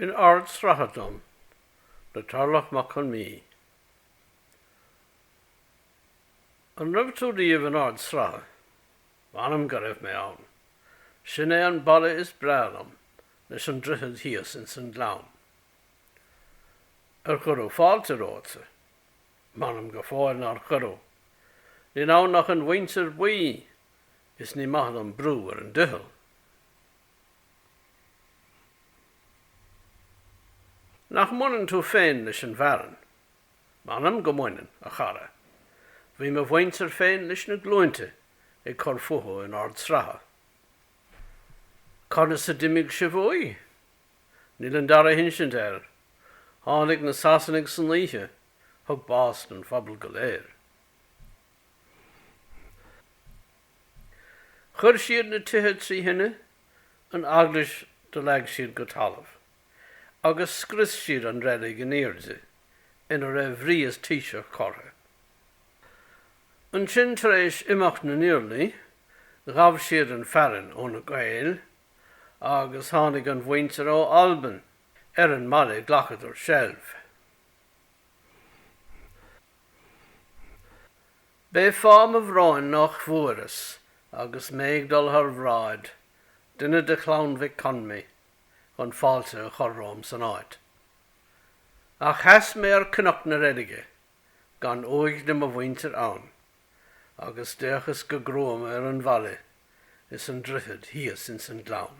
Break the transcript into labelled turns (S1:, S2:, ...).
S1: In Ard Sratha dom le Tarlach Mac Con Mí. An raibh tú riamh in Ard Sratha? M'anam go raibh mé ann. Sin é an baile is breá liom leis an droichead thíos ins an Gleann. Ar cuireadh fáilte romhatsa? M'anam go fóill nár cuireadh. Níl ann ach an mhuintir buí is ní maith dom brú ar an doicheall. Nach mbaineann tú féin leis an bhfearann? M'anam go mbaineann, a chara. Bhí mo mhuintir féin leis na glúinte ag cur fúthu in Ard Sratha. Conas a d'imigh sibh uaidh? Níl an dara hinsint air. Tháinig na Sasanaigh san oíche, thug bás don phobal go léir. Chuir siad na tithe trí thine, an eaglais do leag siad go talamh, agus scrios siad an reilig in airde ina raibh rí is taoiseach curtha. Ansin tar éis imeacht na n-iarlaí, ghabh siad an fearann ó na Gaeil agus tháinig an mhuintir ó Albain. Ar an mbaile ghlacadar seilbh. B'é fáth mo bhróin nách bhfuaireas, agus mé ag dul thar bhráid, duine de chlann Mhic Conmí chun fáilte a chur romham san áit. Ach sheas mé ar Cnoc na Reilige, gan uaigh de mo mhuintir ann, agus d'fhéachas go gruama ar an bhaile is an droichead thíos ins an gleann.